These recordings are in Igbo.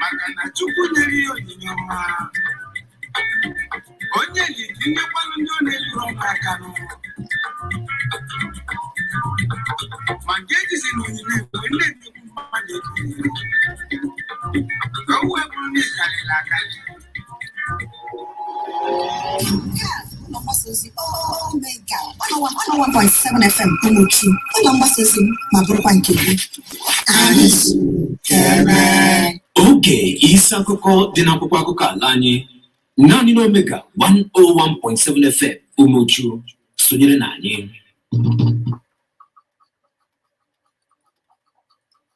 maka na chukwu nyere ya onyinye ọma onye ji ka imekwanụ ndị ọ na-eluru ọma aka n'ụwa ma nke ejizi na onyinye mgbe ndị nnukwu mmadụ ebighị ka o wee bụrụ na ịkarịrị akarị FM Umuchu ụlọ mgbasa ozi m ma bụrụkwa nke gị anyị zukere oge isi akụkọ dị n'akwụkwọ akụkọ ala anyị naanị n'omega 101.7 fm Umuchu sonyere na anyị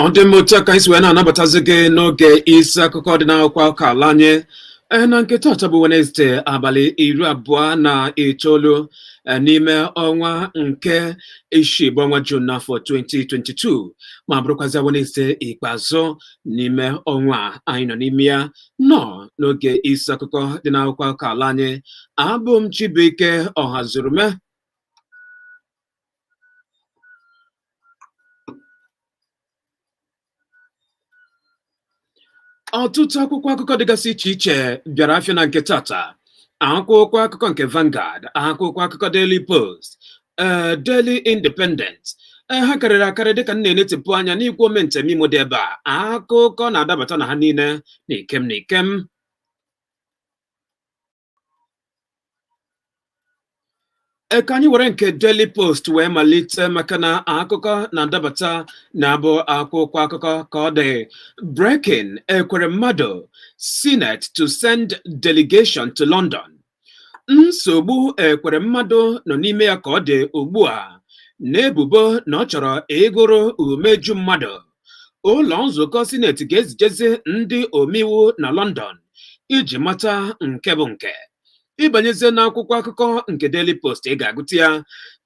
ọ dị mma otu aka anyị si wee na-anabatazi gị n'oge isi akụkọ dị n'akwụkwọ akụkọ ala anyị ee na nke taata bụ Wenesde abalị iri abụọ na itoolu e, n'ime ọnwa nke isii bụ ọnwa Jun n'afọ 2022 ma bụrụkwazị Wenesde ikpeazụ n'ime ọnwa anyị nọ n'ime ya nọ n'oge isi akụkọ dị n'akwụkwọ akụkọ ala anyị abụ m Chibuike Ọhazurume ọtụtụ akwụkwọ akụkọ dịgasị iche iche bịara afịa na nke tata akwụkwọ akụkọ nke Vanguard akwụkwọ akụkọ Daily Post ee Daily Independent ee ha karịrị akarị dịka m na-enetịpụ anya n'igwe ome nta ome imo dị ebe a akụkọ na-adabata na ha niile n'ikem n'ikem e ka anyị were nke Daily Post wee malite maka na akụkọ na-adabata na ya bụ akwụkwọ akụkọ ka ọ dị breaking Ekweremadu Senate to send delegation to London nsogbu Ekweremadu nọ n'ime ya ka ọ dị ugbu a n'ebubo na ọ chọrọ ịgụrụ umeju mmadụ ụlọ nzukọ sineti ga-ezijezi ndị omeiwu na London iji mata nke bụ nke ị banyezie n'akwụkwọ akụkọ nke Daily Post ị ga-agụta ya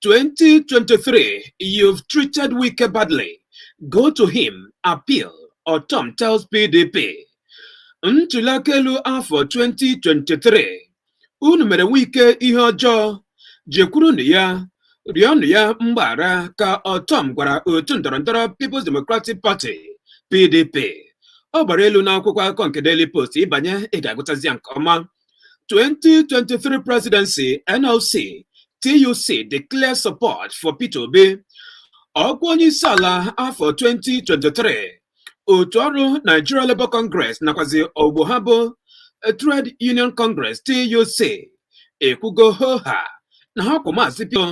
2023 you've treated Wike badly go to him appeal Ortom tells PDP ntuliaka elu afọ 2023 unu mere Wike ihe ọjọọ jekwurunụ ya rịọnụ ya mgbaghara ka Ortom gwara otu ndọrọndọrọ People's Democratic Party PDP ọ gbara elu n'akwụkwọ akụkọ nke Daily Post ị banye ị ga-agụtazi ya nke ọma 2023 presidency NLC TUC declare support for Peter Obi ọkwa onye isi ala afọ 2023 otu ọrụ Nigeria Labour Congress nakwazi ogbo ha bụ Trade Union Congress TUC ekwugo hoha na ha kwụ maazị Peter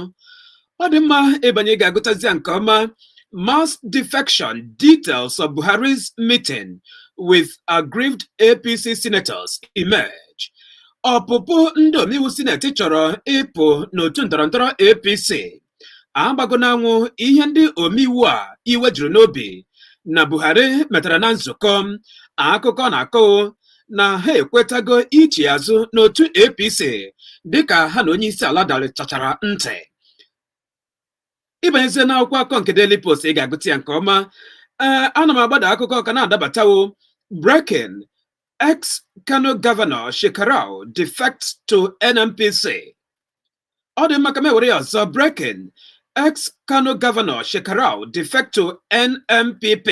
ọ dị mma ịbanye ị ga-agụtazi ya nke ọma mass defection details of Buhari's meeting with aggrieved APC senators emerge ọpụpụ ndị omeiwu sineti chọrọ ịpụ n'otu ndọrọndọrọ APC agbago n'anwụ ihe ndị omeiwu a iwe juru n'obi na Buhari metara na nzukọ akụkọ na-akọ na ha ekwetago ichi azụ n'otu APC dịka ha na onye isi ala darịtachara ntị ịbanyezie n'akwụkwọ akụkọ nke Daily Post ị ga-agụta ya nke ọma ee ana m agbada akụkọ ka na-adabatawo breaking ex Kano governor Shekarau defects to NNPC ọ dị mma ka m were ya ọzọ breaking ex Kano governor Shekarau defects to NNPP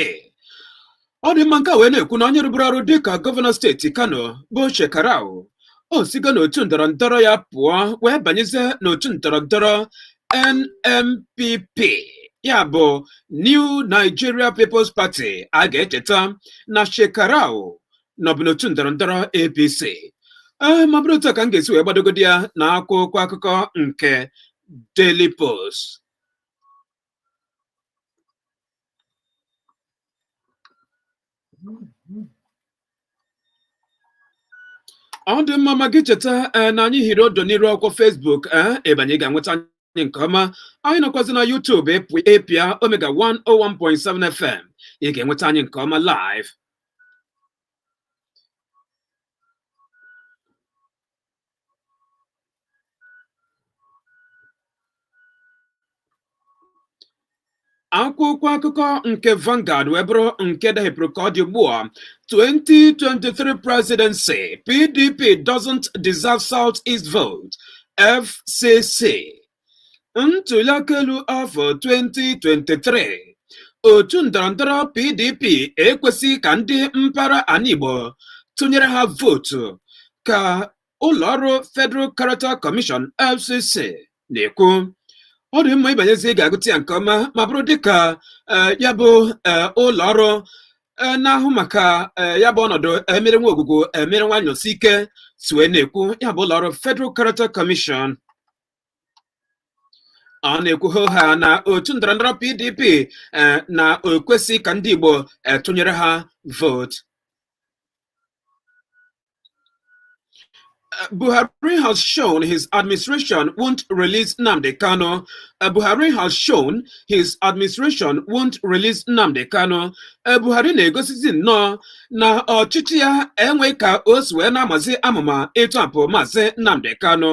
ọ dị mma nke wee na-ekwu na onye rụburu ọrụ dịka gọvanọ steeti Kano bụ Shekarau o sigo n'otu ndọrọ ndọrọ ya pụọ wee banyezie n'otu ndọrọ ndọrọ NNPP ya bụ New Nigeria People's Party a ga-echeta na Shekarau nọbu n'otu ndọrọ ndọrọ APC ee ma bụrụ otu a ka m ga-esi wee gbadogodi ya na akwụkwọ akụkọ nke Daily Post ọ dị mma ma gị cheta ee na anyị hiri odo n'iru akwụkwọ Facebook ee ịbanye ị ga-enweta anyị nke ọma anyị nọkwazi na YouTube ịpụ- ịpịa Omega 101.7 FM ị ga-enweta anyị nke ọma live akwụkwọ akụkọ nke Vanguard wee bụrụ nke dahepụrụ ka ọ dị ugbu a 2023 presidency PDP doesn't deserve South East vote FCC Ntụliaka elu afọ 2023 otu ndọrọndọrọ PDP ekwesịghị ka ndị mpaghara ala Igbo tụnyere ha vootu ka ụlọọrụ Federal Character Commission FCC na-ekwu ọ dị mma ịbanyezi ị ga-agụta ya nke ọma ma bụrụ dịka eh, ya bụ eh, ụlọọrụ eh, na-ahụ maka ya bụ ọnọdụ emere nwa ogwugwu emere Nwanosike si wee na-ekwu ya bụ ụlọọrụ Federal Character Commission ọ na-ekwu hoha na otu ndọrọndọrọ PDP eh, na o kwesị ka ndị Igbo eh, tụnyere ha vootu eh, Buhari has shown his administration won't release Nnamdi Kanu. Uh, Buhari has shown his administration won't release Nnamdi Kanu. Uh, Buhari na-egosizi nnọọ na ọchịchị ya enweghị ka o si wee na-amazi amụma ịtọpụ maazị Nnamdi Kanu.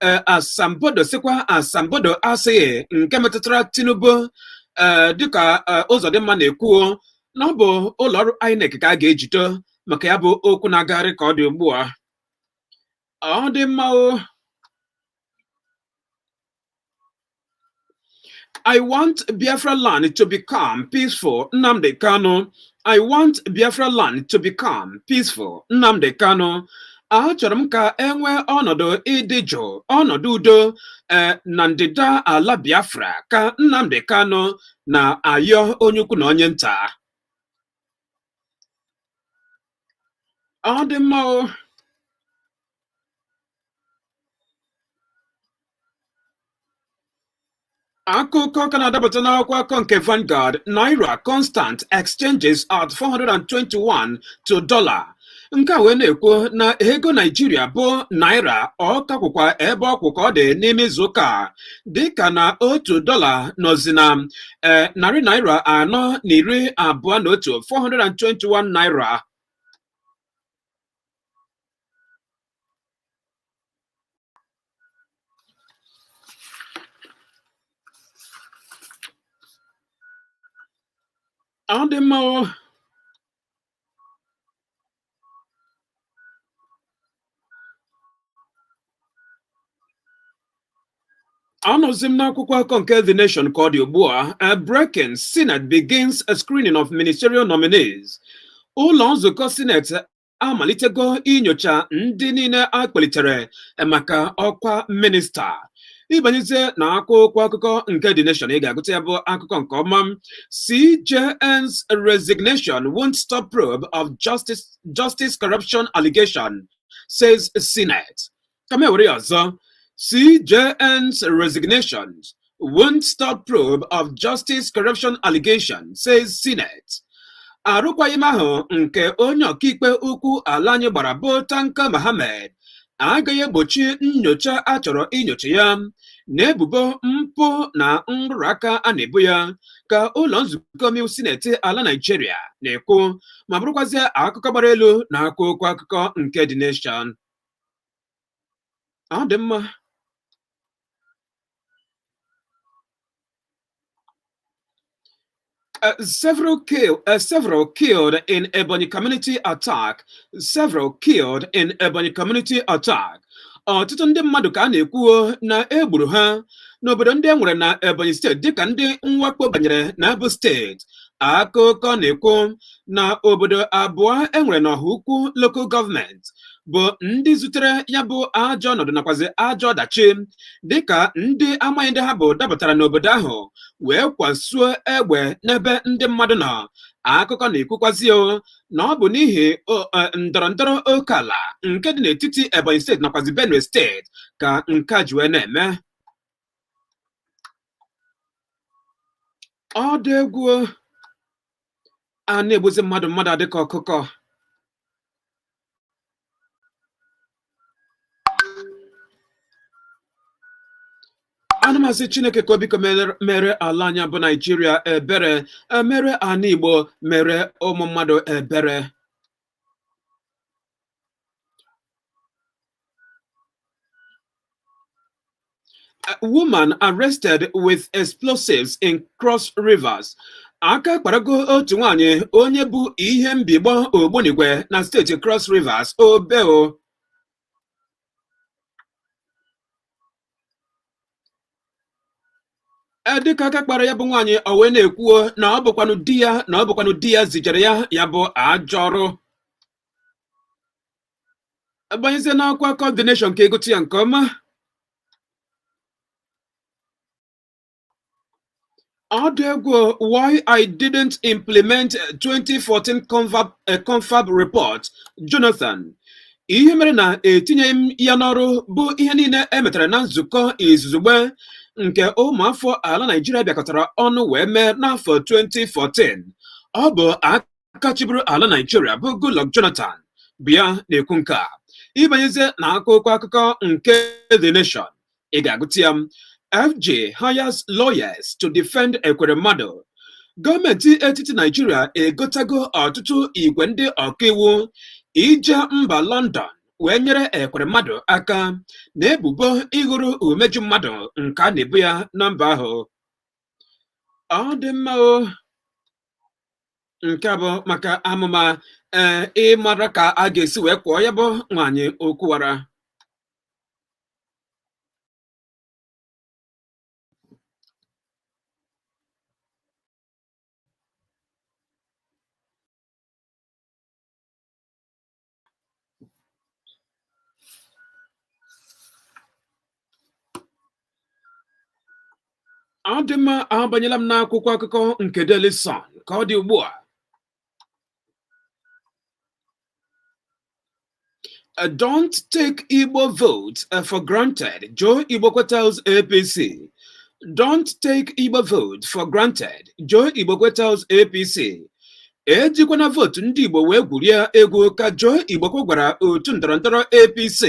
eh, asambodo sịkwa asambodo asịghị nke metụtara Tinubu eh, dịka eh, Uzodimma na-ekwu na ọ bụ ụlọọrụ INEC ka a ga-ejide maka ya bụ okwu na-agagharị ka ọ dị ugbu a ọ dị mma I want Biafra land to become peaceful, Nnamdi Kanu. I want Biafra land to become peaceful, Nnamdi Kanu. Achọrọ m ka e nwee ọnọdụ ịdị jụụ, ọnọdụ udo eh, na ndịda ala Biafra ka Nnamdi Kanu na-ayọ onye ukwu na onye nta. ọ dị mma o akụkọ ka na-adapụta n'akwụkwọ akụkọ nke Vanguard naira constant exchanges at 421 to dollar nke a wee na-ekwu na ego Naịjirịa bụ naira ọ ka kwụkwa ebe ọ kwụ ka ọ dị n'ime izuụka dịka na otu dọla nọzi na e, narị naira anọ na iri abụọ na otu 421 naira ọ dị mma Anọzi m n'akwụkwọ akọ nke The Nation ka ọ dị ugbu a eh, breaking Senate begins a screening of ministerial nominees. Ụlọ nzukọ Senate amalitego inyocha ndị niile a kpalitere eh, maka ọkwa minista. ị banyezie na akwụkwọ akụkọ nke The Nation ị ga-agụta ya bụ akụkọ nke ọma CJN's resignation won't stop probe of justice corruption allegation says Senate ka m were ya ọzọ CJN's resignation won't stop probe of justice corruption allegation says Senate arụkwaghịm ahụ nke onye ọkaikpe ukwu ala anyị gbara bụ Tanko Mohammed agaghị egbochi nnyocha a chọrọ inyocha ya n'ebubo mpụ na nrụrụ aka a na-ebo ya ka ụlọ nzukọ omeiwu sineti ala Naijiria na-ekwu ma bụrụkwazie akụkọ gbara elu na akwụkwọ akụkọ nke The Nation ọ dị mma Uh, several, kill, uh, several killed in Ebonyi community attack. Several killed in Ebonyi community attack. Ọtụtụ ndị mmadụ ka a na-ekwuo na e gburu ha n'obodo ndị e nwere na Ebonyi steeti dịka ndị mwakpo banyere na ya bụ steeti akụkọ na-ekwu na obodo abụọ e nwere n'Ohaukwu lokal gọọmenti bụ ndị zutere ya bụ ajọ ọnọdụ nakwazi ajọ ọdachi dịka ndị amaghị ndị ha bụ dapụtara n'obodo ahụ wee kwasuo egbe n'ebe ndị mmadụ nọ akụkọ na-ekwukwazi na ọ bụ n'ihi e, ndọrọ ndọrọ oke ala nke dị n'etiti Ebonyi steeti nakwazi Benue steeti ka nke a ji wee na-eme ọ dị egwu a na-egbuzi mmadụ mmadụ adị ka ọkụkọ ana m asị chineke ka o biko mere ala anyị a bụ naijiria ebere mere ana igbo mere ụmụ mmadụ ebere A woman arrested with explosives in Cross Rivers. Aka kparago otu nwaanyị onye bu ihe mbigbọ ogbunigwe na steeti Cross Rivers obeo dịka aka kpara ya bụ nwaanyị o wee na-ekwuo na ọ bụkwanụ di ya na ọ bụkwanụ di ya zijere ya ya bụ ajọ ọrụ a banyezie n'akwụkwọ The Nation ka ị gụta ya nke ọma Ọ dị egwu, why I didn't implement 2014 uh, confab, uh, confab report, Jonathan. Ihe mere na etinyeghị m ya n'ọrụ bụ ihe niile e metara na nzukọ izugbe nke ụmụafọ ala Naịjirịa bịakọtara ọnụ wee mee n'afọ 2014. Ọ bụ aka chịburu ala Naịjirịa bụ Goodluck Jonathan bụ ya na-ekwu nke a. Ị banyezie na akwụkwọ akụkọ nke The Nation Ị ga-agụta ya FG hires lawyers to defend Ekweremadu gọọmenti etiti Naijiria egotago ọtụtụ igwe ndị ọkaiwu ije mba London wee nyere Ekweremadu aka na ebubo ịghọrọ umeju mmadụ nke a na-ebo ya na mba ahụ ọ dị mma o nke bụ maka amụma ee eh, ịmara ka a ga-esi wee kwụọ ya bụ nwaanyị okwuwara ọ dị mma abanyela m n'akwụkwọ akụkọ nke Daily Sun ka ọ dị ugbu a Uh, don't take Igbo votes uh, for granted. Joe Igbokwe tells APC. Don't take Igbo vote for granted. Joe Igbokwe tells APC. Ejikwana votu ndị Igbo wee gwurie egwu ka Joe Igbokwe gwara otu ndọrọndọrọ APC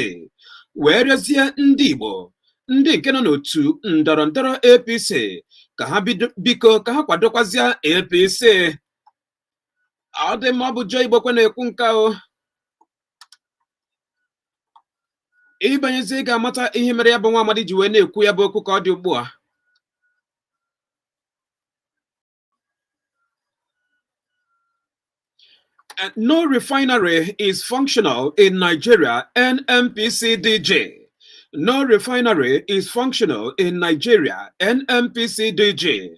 wee rịọzie ndị Igbo ndị nke nọ n'otu ndọrọndọrọ APC ka ha biko ka ha kwadokwazịa APC. ọ dị mma ọ bụ Joe Igbokwe na-ekwu nke o ị banyezi ị ga-amata ihe mere ya bụ nwa amadi ji wee na-ekwu ya bụ okwu ka ọ dị ugbu a Uh, no refinery is functional in Nigeria, NNPC DG. No refinery is functional in Nigeria, NNPC DG.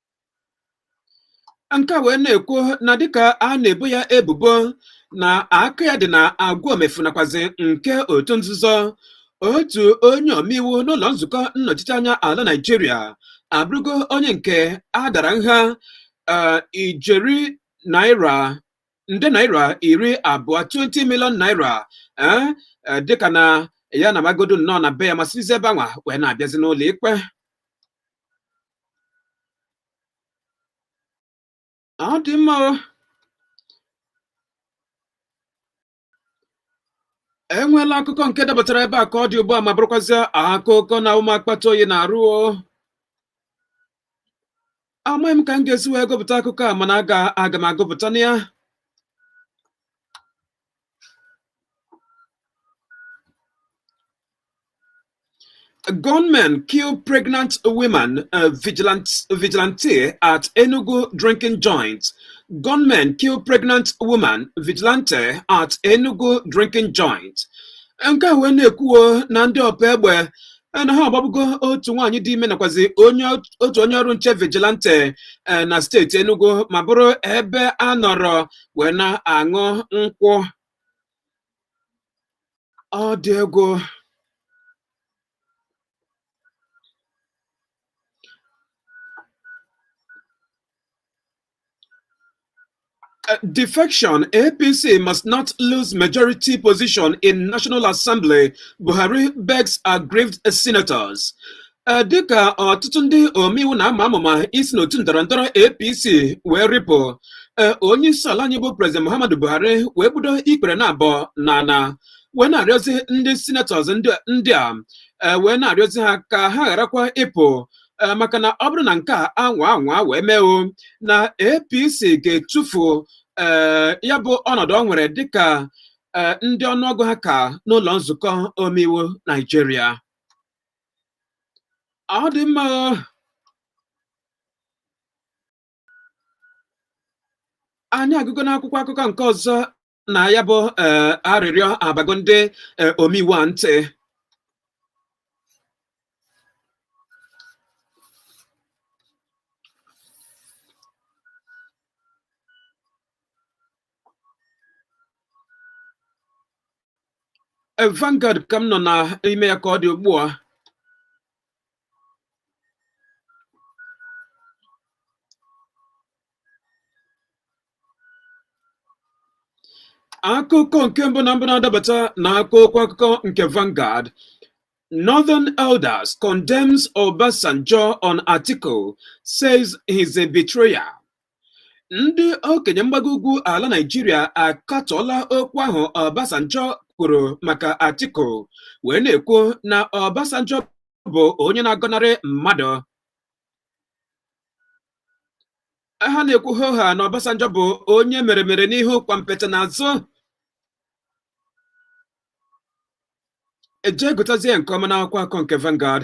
nke a wee na-ekwu na dịka a na-ebo ya ebubo na aka ya dị na agwa omefu nakwazi nke otu nzuzo otu onye omeiwu n'ụlọ nzukọ nnọchiteanya ala Naịjirịa abụrụgo onye nke a dara nha eh, ijeri naira nde naira iri abụọ 20 million naira eh, eh, dịka na ya namagodo nọọ na be ya ma sizi ebe anwa wee na-abịazi n'ụlọ ikpe ọ dị mma o. enweela akụkọ nke dapụtara ebe a ka ọ dị ugbu a ma bụrụkwazịa akụkọ na-awụ m akpata oyi n'arụ o amaghị m ka m ga-esi wee gụpụta akụkọ a mana aga aga m agụpụtanụ ya Gunmen kill pregnant women, uh, vigilante, vigilante at Enugu drinking joint. Gunmen kill pregnant woman, vigilante at Enugu drinking joint. Nke a wee na-ekwuo na ndị ọpa egbe na ha agbagbugo otu nwaanyị dị ime nakwazi onye otu onye ọrụ nche vigilante eh, na steeti Enugu ma bụrụ ebe a nọrọ wee na-aṅụ nkwụ ọ dị egwu Uh, defection, APC must not lose majority position in National Assembly, Buhari begs aggrieved senators. Uh, dịka ọtụtụ ndị omeiwu na-ama amụma isi n'otu ndọrọ ndọrọ APC wee rịpụ uh, onye isi ala anyị bụ President Muhammadu Buhari wee gbudo ikpere naabọ n'ana wee na-arịọzi ndị senators ndị a wee na-arịọzi ha ka ha gharakwa ịpụ eh, maka na ọ bụrụ na nke a anwa anwa wee mee o na APC ga-etufu eh, ya bụ ọnọdụ o nwere dịka eh, ndị ọnụọgụ ha ka n'ụlọ nzukọ omeiwu Naijiria ọ dị mma o. anyị agụgo n'akwụkwọ akụkọ nke ọzọ na ya bụ eh, arịrịọ abago ndị eh, omeiwu a ntị Eh, Vanguard ka m nọ n'ime ya ka ọ dị ugbu a akụkọ nke mbụ na mbụ na-adabata na akwụkwọ akụkọ nke Vanguard Northern Elders condemns Obasanjo on Atiku says he's a betrayer ndị okenye mgbago ugwu ala Naịjirịa akatọọla okwu ahụ Obasanjo kwuru maka Atiku wee na-ekwu na Obasanjo bụ onye na-agọnarị mmadụ ha na-ekwu hoo haa na Obasanjo bụ onye mere mere n'ihu kwampeta n'azụ e jee gụtazie nke ọma n'akwụkwọ akụkọ nke Vanguard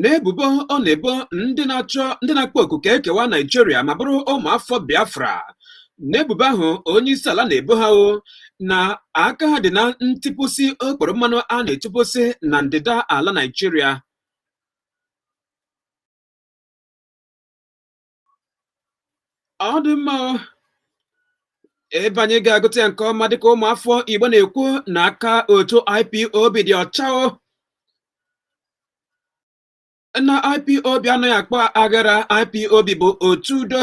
n'ebubo ọ na-ebo ndị na-achọ ndị na-akpọ oku ka e kewaa Naijiria ma bụrụ ụmụafọ Biafra n'ebubo ahụ onye isi ala na-ebo ha o na aka ha dị na ntipụsị okporo mmanụ a na-etipụsị na ndịda ala Naijiria ọ dị mma ebe anyị ga-agụta ya nke ọma dịka ụmụafọ Igbo na-ekwu na aka otu IPOB dị ọcha na IPOB anaghị akpa aghara IPOB bụ otu udo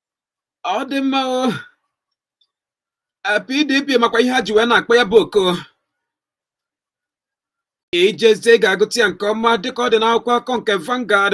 ọ dị mma o Eh, PDP makwa ihe ha ji wee na-akpọ ya bụ oku i jezie ị ga-agụta ya nke ọma dịka ọ dị n'akwụkwọ akụkọ nke Vanguard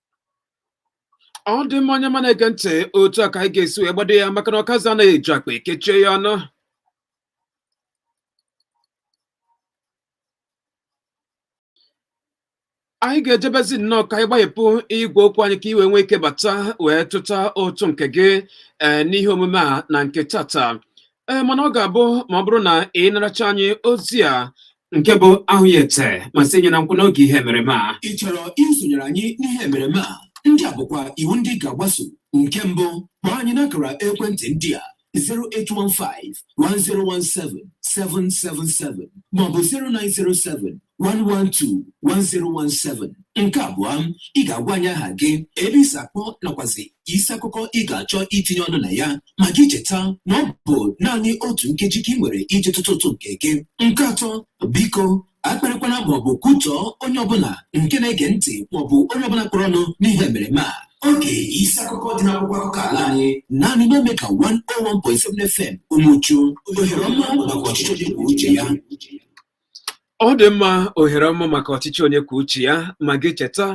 ọ dị mma onye ọma na-ege ntị otu a ka anyị ga-esi wee gbado ya maka na ọkazi anaghị eju akpa ekechie ya ọnụ anyị ga-ejebezi nnọọ ka anyị gbahepụ igwe okwu anyị ka i wee nwee ike bata wee tụta ụtụ nke gị ee n'ihe omume a na nke tata ee mana ọ ga-abụ ma ọ bụrụ na ị naracha anyị ozi a nke bụ ahụ ya ete ma sị nye na nkwụ n'oge ihe emereme a ị chọrọ isonyere anyị n'ihe emereme a ndị a bụkwa iwu ndị ị ga-agbaso nke mbụ kpọọ anyị n'akara ekwentị ndị a 0815 1017 777 maọbụ 0907 112-1017 nke abụọ ị ga-agwa anyị aha gị ebe i si akpọ nakwazi isi akụkọ ị ga-achọ itinye ọnụ na ya ma gị cheta na ọ bụ naanị otu nkeji ka ị nwere iji tụtụ ụtụ nke gị nke atọ biko akparịkwana maọbụ kwutọọ onye ọbụla nke na-ege ntị maọbụ onye ọbụla kpọrọ ọnụ n'ihe emereme a oge isi akụkọ dị n'akwụkwọ akụkọ ala anyị naanị n'Omega 101.7 FM Umuchu ohere ọma maka ọchịchị onye kwuo uche ya ọ dị mma ohere ọma maka ọchịchị onye kwuo uche ya ma gị cheta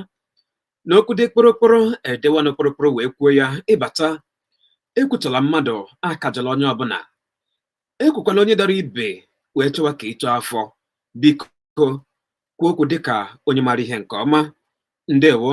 na okwu dị kpụrụkpụrụ edewa ọnụ kpụrụkpụrụ wee kwuo ya ị bata ekwutọla mmadụ akajọla onye ọbụla ekwukwala onye dara ibi wee chọwa ka i too afọ biko kwuo okwu dịka onye maara ihe nke ọma ndewo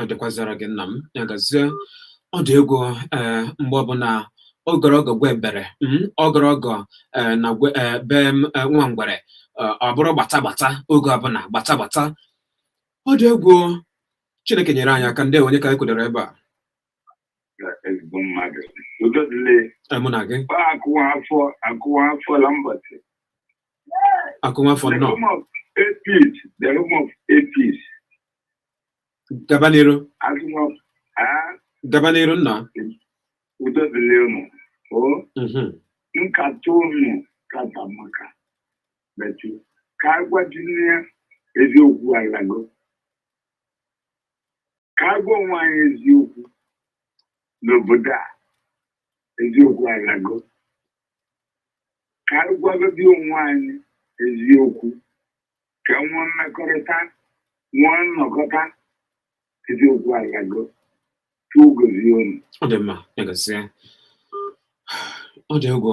ọ dịkwazara gị nna m ya gazie ọ dị egwu ee mgbe ọbụla ogologo gwa ebere ogologo na be nwa ngwere ọ bụrụ gbata gbata oge ọbụla gbata gbata ọ dị egwu chineke nyere anyị aka ndewo onye ka anyị kwudoro ebe a mụ na gị Akumafor nnọọ. home of APs, the home of APs, gaba n'iru, as home of ah, gaba n'iru nna. udo dịrị unu. O, Mhm. nkata unu kata maka. Betu, ka agwa dị n'ihe eziokwu alago. Ka a gwa onwe anyị eziokwu n'obodo a. Eziokwu alago. ka anyị gwagodi onwe anyị eziokwu ka nwee mmekọrịta nwee nnọkọta eziokwu alago Chukwu gozie unu ọ dị mma ya gazie ọ dị egwu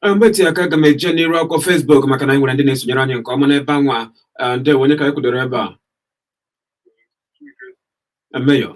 Ee, mgbe eteghị aka aga m eje n'iru akwụkwọ Facebook maka na anyị nwere ndị na-esonyere anyị nke ọma n'ebe anwa Ee, ndewo onye ka anyị kwudoro ebe a Ee, Mayor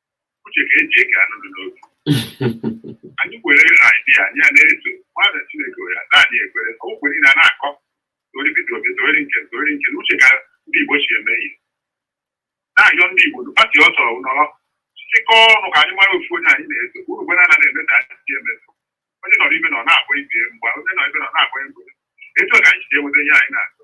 uche ka eji eke anụ dị n'obi anyị were idea anyị a na-eso mmadụ chineke were ada anyị ekwere okwu niile a na-akọ tori Peter Obi tori nke tori nke na uche ka ndị igbo si eme ihe na-ayọ ndị igbo na pati ọ sọrọ nọrọ chịkọọ ọnụ ka anyị mara ofu onye anyị na-eso uru gbe na-ana na-eme ka anyị si emeso onye nọrọ ebe ọ nọ na-akpọ ibe mgbe onye nọ ebe ọ nọ na-akpọ ibe etu a ka anyị si enweta ihe anyị na-achọ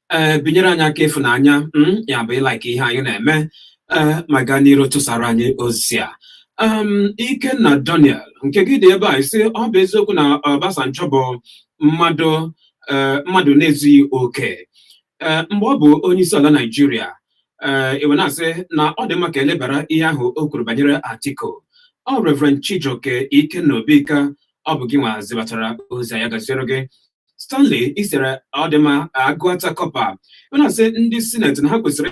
ee eh, binyere anyị aka ịfụnanya hmm, ya bụ ịlaik ihe anyị na-eme ee eh, ma gaa n'iru tụsara anyị ozi a Ikenna Daniel nke gị dị ebe a ị sị ọ bụ eziokwu na Obasanjo bụ mmadụ eh, mmadụ na-ezughị oke mgbe ọ bụ onye isi ala Naijiria i wee na-asị na ọ dị mma ka e lebara ihe ahụ o kwuru banyere Atiku ọ Reverend Chijioke Ikenna Obika ọ bụ gị nwa zibatara ozi a ya gaziere gị Stanley ị sịrị ọ dị mma agụata kọpa ị na-asị ndị sineti na ha kwesịrị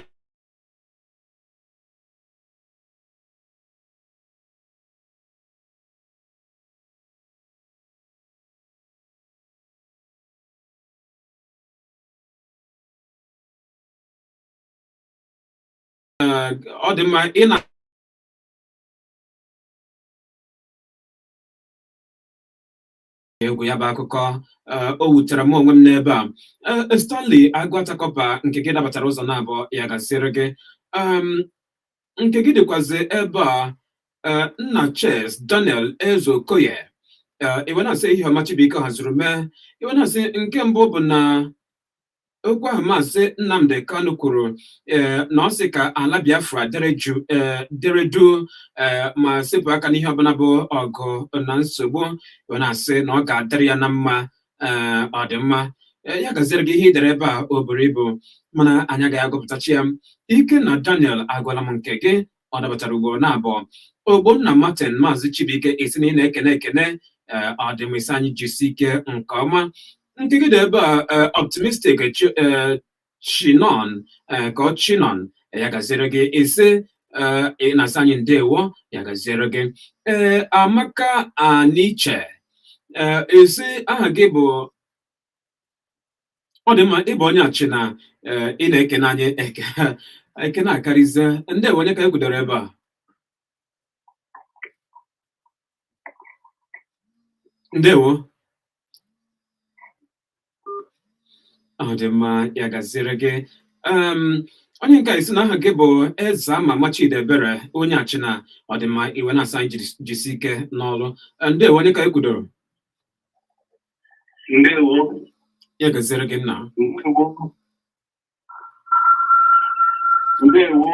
ọ dị mma ị na egwu ya bụ akụkọ eh, o wutere m onwe m n'ebe a Eh, eh, Stanley Agụata kọpa nke gị dabatara ụzọ na abụọ ya gaziere gị Em, nke gị dịkwazi ebe a eh, nna Ches Daniel Ezeokoye Eh, i wee na-asị ehihie ọma Chibuike hazuru mee i wee na-asị nke mbụ bụ na okwu ahụ maazị Nnamdi Kanu kwuru eh, na ọ sị ka ala Biafra dere jụụ eh, dere duu eh, ma sepụ aka n'ihe ọbụla bụ ọgụ na nsogbu wee na-asị na ọ ga-adịrị ya na mma eh, ọ dị mma Eh, ya gaziere gị ihe i dere ebe a o buru ibu mana anyị agaghị agụpụtacha ya Ikenna Daniel agụọla m nke gị ọ dabatara ugboro na abụọ ogbonna martin maazị chibuike ị sị na ị na-ekene ekene ee ọ dị mma ị sị anyị jisi ike nke ọma nke gị dị ebe a ee, optimistic chi- ee, chinon ee, ka ọ chinon ya gaziere gị ị sị ee, ị na-asị anyị ndewo ya gaziere gị ee amaka aniche ee ị sị aha gị bụ ọ dị mma ị bụ onye Achịna eh, ị na-ekene anyị ekene akarịzie ndewo onye ka ekwudoro ebe a ndewo ọ dị mma ya gaziere gị Em, onye nke a ị sị na aha gị bụ Ezeamama Chidiebere onye Achịna ọ dị mma ị wee na-asị anyị jiri- jisi ike n'ọrụ Eh, ndewo onye ka ekwudoro ndewo ya gaziri gị nna ndewo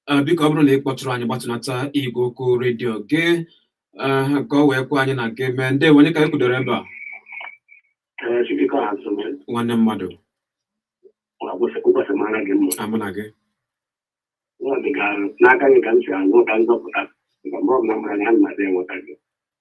eh, biko ọ bụrụ na ị kpọtụrụ anyị gbatụnata igwe okwu redio gị eh, ka o wee kwe anyị na gị mee ndewo onye ka anyị kwudoro ebe a eh, nwanne mmadụ amụ na gị n'aka gị ka m si anụ ka nzọpụta mgbe ọ bụla mara na ya na-adị enweta gị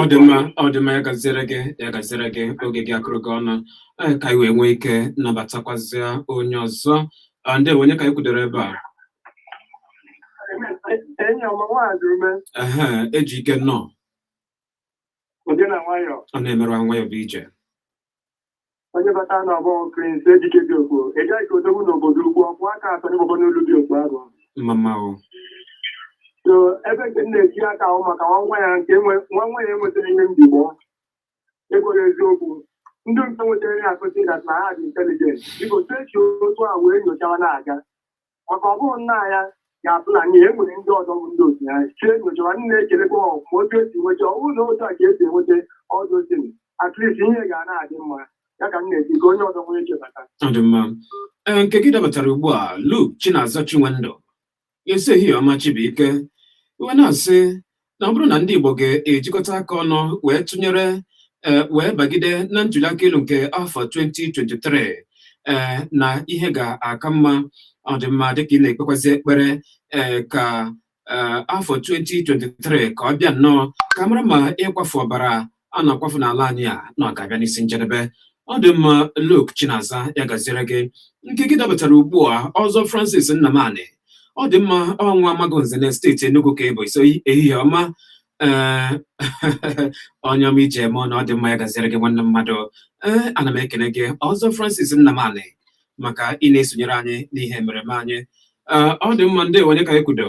ọ dị mma ọ dị mma ya gaziere gị ya gaziere gị oge gị akụrụ gị ọnụ ee, ka anyị wee nwee ike nabatakwazịa onye ọzọ Ah, ndewo onye ka anyị kwudoro ebe a enyi ọma nwaanyị ume ehe Ejike nnọọ ụdị na nwayọ ọ na-emerụ nwayọ bụ ije onye bata na ọgbọ Prince Ejike dị okpo ị gaghị ka odogwu n'obodo ukwu ọkwụ aka atọ n'ịgbọgbọ n'olu dị okpo ahụ mama o so ebe nke m na-eji aka ahụ maka nwa nwa ya nke enwe- nwa nwa ya enwetara ihe mbigbọ ekwere eziokwu ndị nke nwetara ihe akụzi that na ha dị intelligent biko sechi otu a wee nyochawa na-aga maka ọ bụrụ nna ya ga-abụ na n'ihe nwere ndị ọzọ bụ ndị otu ya chie nyochara nne ekelekwa ọgwụ ma otu esi nweta ọ bụrụ na otu a ka esi enweta ọdụzin at least ihe ga na-adị mma ya ka m na-eti ka onye ọzọ nwee chebata ọ dị mma ee nke gị dabatara ugbu a Luke Chinaza Chinwendụ ị sị ehihie ọma Chibuike ị wee na-asị na ọ bụrụ na ndị Igbo ga-ejikọta aka ọnụ wee tụnyere eh, wee bagide na ntuliaka elu nke afọ 2023 eh, na ihe ga-aka mma ọ dị mma dịka ị na-ekpekwazi ekpere eh, ka afọ 2023 ka ọ bịa nnọọ ka a mara ma ịkwafu ọbara a na-akwafu n'ala anyị a na ọ ga-abịa n'isi njedebe ọ dị mma Luke Chinaza ya gaziere gị nke gị dabatara ugbu a ọzọ Francis Nnamani ọ dị mma ọ bụ Amagunze na steeti Enugu ka ị bụ ị sị ehihie ọma ee onye ọma e ji eme ọnụ ọ dị mma ya gaziere gị nwanne mmadụ ee ana m ekene gị ọzọ Francis Nnamani maka ị na-esonyere anyị n'ihe mmereme anyị ee ọ dị mma ndewo onye ka anyị kwudo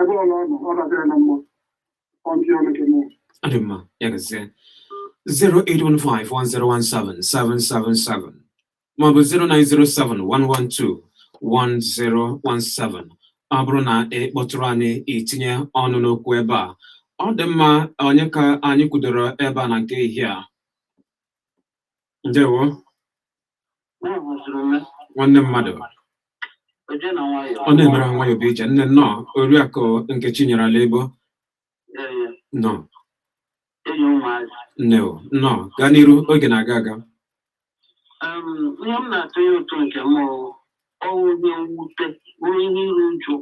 ebe ọbụla ọ nọ ọ dabịara na mmụọ ọntị ọnụ gị mmụọ Ọ dị mma, ya gazie. 08151017777 maọbụ 09071121017 ọ bụrụ na ị kpọtụrụ anyị itinye ọnụ n'okwu ebe a ọ dị mma onye ka anyị kwudoro ebe a na nke ehihie a ndewo nwanne mmadụ ọ na-emere nwayọ bụ ije nne nnọọ oriakụ Nkechinyere ala ebo nọ nne o nnọọ gaa n'iru oge na-aga aga ihe m na-atụnye ụtụ nke m ọ wụ ihe mwute bụrụ ihe iru uju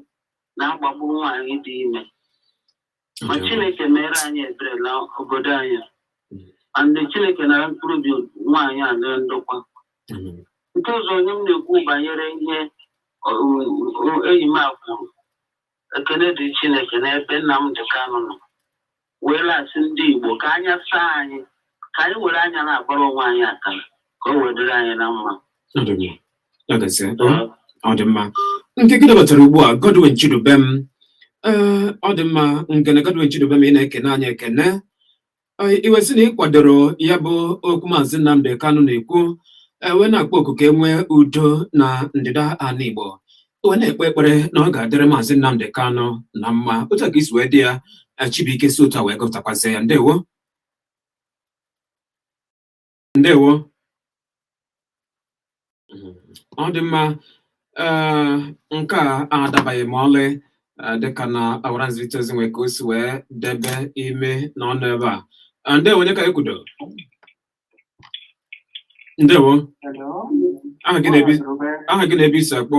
na-agbagbu nwaanyị dị ime ma chineke meere anyị ebere na obodo anyị a ndị chineke nara mkpụrụ obi nwaanyị a na ndokwa nke ọzọ onye m na-ekwu banyere ihe enyi m a kwuru ekene dị chineke n'ebe Nnamdi Kanu nọ wee na-asị ndị igbo ka anya saa anyị ka anyị were anya na-agbara onwe anyị akara ka o wee dịrị anyị na mma Ọ dị mma. Ya gazie. Ọ- ọ dị mma nke gị dabatara ugbu a Godwin Chidubem ee ọ dị mma Ngene Godwin Chidubem ị na-ekene anyị ekene Ee, i wee sị na ị kwadoro ya bụ okwu maazị Nnamdi Kanu na-ekwu ee, wee na-akpọ oku ka e nwee udo na ndịda ala Igbo wee na-ekpe ekpere na ọ ga-adịrị maazị Nnamdi Kanu na mma otu a ka i si wee dee ya ee, Chibuike si otu a wee gụpụtakwazie ya ndewo ndewo ọ dị mma ee nke a adabaghị ma ọlị eh, dịka na ọwara nzirịta ozi nwere ka o si wee debe imi na ọnụ ebe a Eh, ndewo onye ka e kwudo ndewo aha gị na ebe aha gị na ebe i si akpọ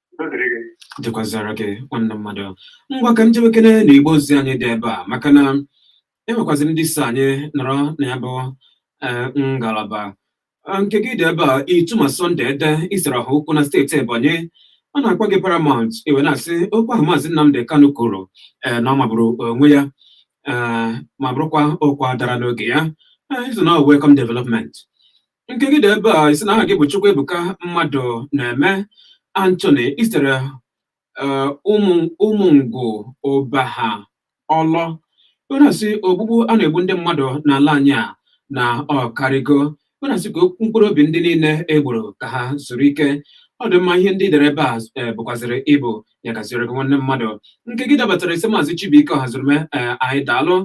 dịkwazara gị nwanne mmadụ ngwa ka m jewekene na igbe ozi anyị dị ebe a maka na e nwekwazị ndị so anyị nọrọ na ya bụ eh, ngalaba Ah, nke gị dị ebe a Ituma Sunday Ede i siri Ohaukwu na steeti ebonyi a na-akpọ gị Paramount i wee na-asị okwu ahụ maazị Nnamdi Kanu kwuru eh, na ọ magburu onwe ya eh, ma bụrụkwa okwu a dara n'oge ya Eh, i sị na ọ wụ welcome development Nke gị dị ebe a i sị na aha gị bụ Chukwuebuka Mmadụnaeme Anthony i sitere eh, ụmụ Ụmụngwu Ụbaha Ọlọ ọ na-asị ogbugbu a na-egbu ndị mmadụ n'ala anyị a na ọ karigo ọ na-asị ka mkpụrụ obi ndị niile e gburu ka ha zuru ike ọ dị mma ihe ndị i dere ebe a eh, bụkwazịrị ịbụ ya gaziere gị nwanne mmadụ nke gị dabatara i sị maazị Chibuike Ọhazurume eh, anyị daalụ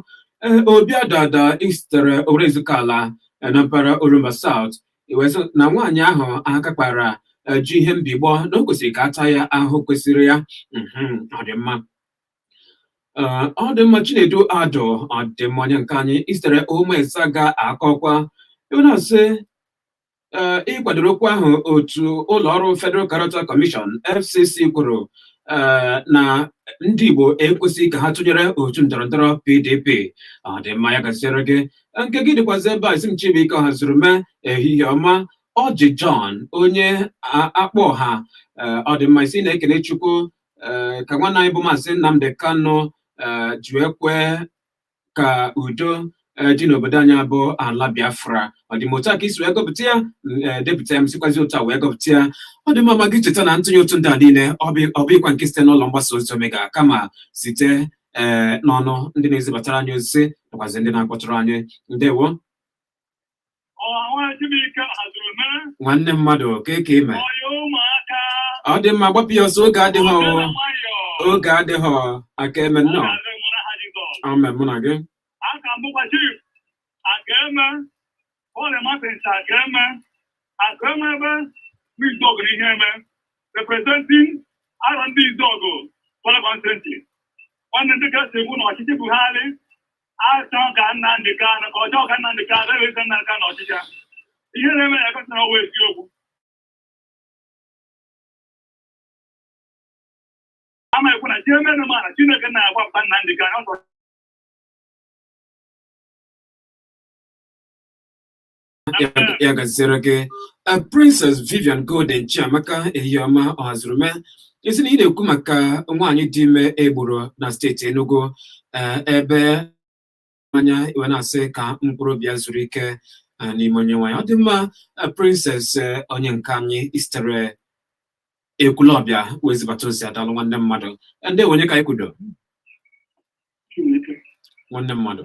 ee Obi Adada i sitere orezuka ala e, na mpaghara Orumba South i wee sị na nwaanyị ahụ aka kpara e, ji ihe mbigbọ na o kwesịrị ka a taa ya ahụhụ kwesịrị ya mhm, ọ dị mma e, ọ dị mma Chinedu Adụ ọ dị mma onye nke anyị i sitere ụmụesa ga-akọkwa i wee na-asị ị kwadoro okwu ahụ otu ụlọ ọrụ Federal Character Commission FCC kwuru Eh, na ndị Igbo ekwesịghị ka ha tụnyere otu ndọrọndọrọ PDP ọ dị mma ya gaziere gị nke gị dịkwazi ebe a ị sị m Chibuike Ọhazurume ehihie ọma Ọjị John onye a- akpọ ọha eh, ọ dị mma ị sị na-ekele Chukwu eh, ka nwanne anyị bụ maazị Nnamdị Kanụ eh, ji wee kwee ka udo eh, dị n'obodo anyị bụ ala Biafra ọ dị mma otu a ka i si wee gụpụta ya m, eh, depụta ya m sikwazi otu a wee gụpụta ya ọ dị mma ma gị cheta na ntụnye ụtụ ndị a niile ọ bụ- ọ bụghịkwa nke site n'ụlọ mgbasa ozi Omega kama site ee eh, n'ọnụ ndị na-ezibatara anyị ozi nakwazi ndị na-akpọtụrụ anyị ndewo nwanne mmadụ kee ka i me ọ dị mma gbapụ ya ọsọ oge adịghị oge adịghị aka eme nnọọ amen mụ na gị Ole Martins Akeme, Akeme ebe n'Izuọgụ na Iheme, representing Arọndizuọgụ constituency. Nwanne ndị kasị ekwu na ọchịchị Buhari achọ ka Nnamdị Kanụ ka ọjọọ ka Nnamdị Kanụ ebe eze Nnamdị Kanụ n'ọchịchị a. Ihe na-eme ya egosi na ọ wụ eziokwu. Ama ekwu na jee menụ mana Chineke na-agwa mba Nnamdị Kanụ ọsọ ya gaziere gị Princess Vivian Golden Chiamaka ehihie ọma Ọhazurume ị sị na ị na-ekwu maka nwaanyị dị ime e gburu na steeti Enugu ebe anya i wee na-asị ka mkpụrụ obi ya zuru ike n'ime Onyenwe anyị ọ dị mma Princess onye nke anyị i sitere Ekwulọbịa wee zibata ozi a daalụ nwanne mmadụ ndewo onye ka anyị kwudo nwanne mmadụ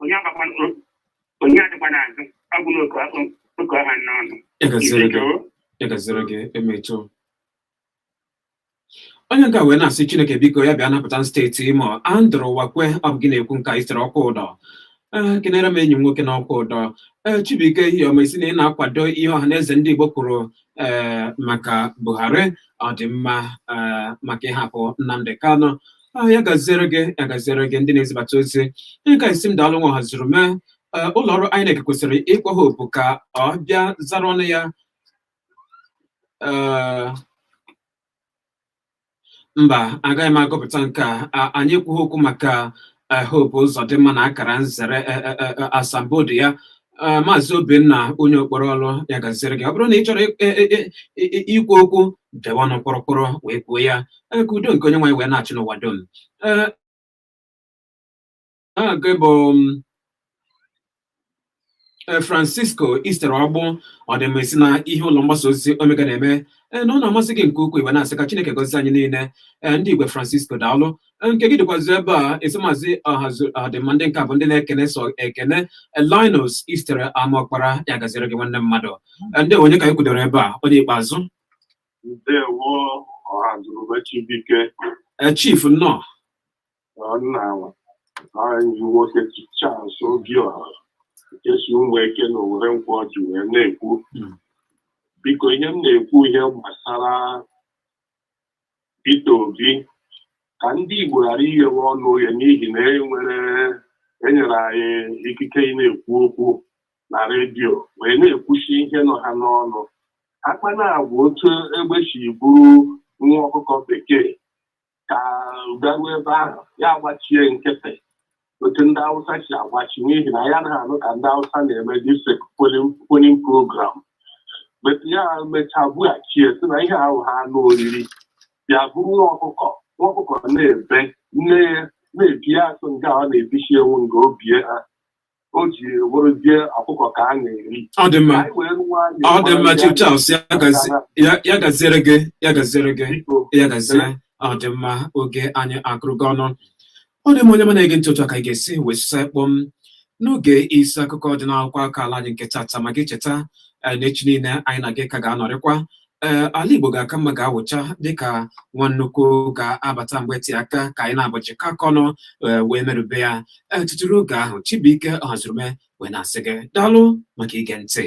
onye agbakwa onye adịkwa n'azụ ọ bụ n'oke oke ọha n'ọnụ Ya gaziere gị. Ibeto, Ya gaziere gị Emeto. Onye nke a wee na-asị Chineke biko ya bịa napụta steeti Imo Andrew Ụwakwe ọ bụ gị na-ekwu nke a i sitere Okwudọ ee kenere m enyi m nwoke n'Okwudọ ee Chibuike ehihie ọma ị sị na ị na-akwado ihe Ọhanaeze ndị Igbo kwuru ee maka Buhari ọ dị mma ee maka ịhapụ Nnamdi Kanu aha ya gaziere gị ya gaziere gị ndị na-ezibata ozi nke a sị m daalụ nwa Ọhazurume ee, ụlọ ọrụ INEC kwesịrị ịkpọ Hope ka ọ bịa zara ọnụ ya ee, mba agaghị m agụpụta nke a A- anyị ekwughị okwu maka eh, Hope Ụzọdịmma na akara nzere eh, eh, eh, eh, asambodo ya Ee, maazị Obinna onye Okporo Ọlụ ya gaziere gị ọ bụrụ na ị chọrọ ị- ị- ị- ị- ị- ikwu okwu dewe ọnụ kpọrọkpọrọ wee kwuo ya Ee, ka udo nke Onyenweanyị wee na-achị n'ụwa dum Ee, aha gị bụ m, Ee, Francisco i sitere Ọgbụ ọ dị mma ị sị na ihe ụlọ mgbasa ozi Omega na-eme ee na ọ na-amasị gị nke ukwuu i wee na-asị ka Chineke gọzie anyị niile ee ndị Igwe Francisco daalụ nke gị dịkwazi ebe a ị sị maazị aha ọ dị mma ndị nke a bụ ndị na-ekene sọ ekene Linus i sitere Amaọkpara ya gaziere gị nwanne mmadụ ndewo onye ka anyị kwudoro ebe a onye ikpeazụ ndewo Ọhazurume Chibuike Chief nnọọ nna anyị nwoke Charles Obiora nke si Ụmụeke na Owere Nkwọọjị wee na-ekwu biko ihe m na-ekwu ihe gbasara Peter Obi ka ndị Igbo ghara ighewe ọnụ oghe n'ihi na e nwere enyere anyị ikike ị na-ekwu okwu na redio wee na-ekwusi ihe nọ ha n'ọnụ akpa na-agwa otu egbe si buru nwa ọkụkọ bekee ka ọ garuo ebe ahụ ya agbachie nkịtị otu ndị Hausa si agbachi n'ihi na ya anaghị anụ ka ndị Hausa na-eme this polling polling program but ya mechaa bughachie sị na ihe ahụ ha anụ oriri bịa buru nwa ọkụkọ nwa ọkụkọ na-ebe nne ya na-ebi asụ nga ọ na-ebichi ewu nga o bie ha o ji wụrụzie ọkụkọ ka a na-eri ọ dị mma anyị wee rụwa anyị ọ dị mma mara Chief ya Charles ya gazi- ya- ya gaziere gị ya gaziere gị biko ya gazie ọ dị mma oge anyị akụrugo ọnụ ọ dị mma onye ọma na-ege ntị otu a ka anyị ga-esi wee sụsa kpọm n'oge isi akụkọ dị n'akwụkwọ akụkọ ala anyị nke tata ma gị cheta eh, na echi niile anyị na gị ka ga-anọrịkwa ee eh, ala Igbo ga-aka mma ga-awụcha dịka nwa nnukwu ga-abata mgbe ti aka ka anyị na-abọchị ka aka ọnụ eh, wee merube ya ee tutu ruo oge ahụ Chibuike Ọhazurume wee na-asị gị daalụ maka ige ntị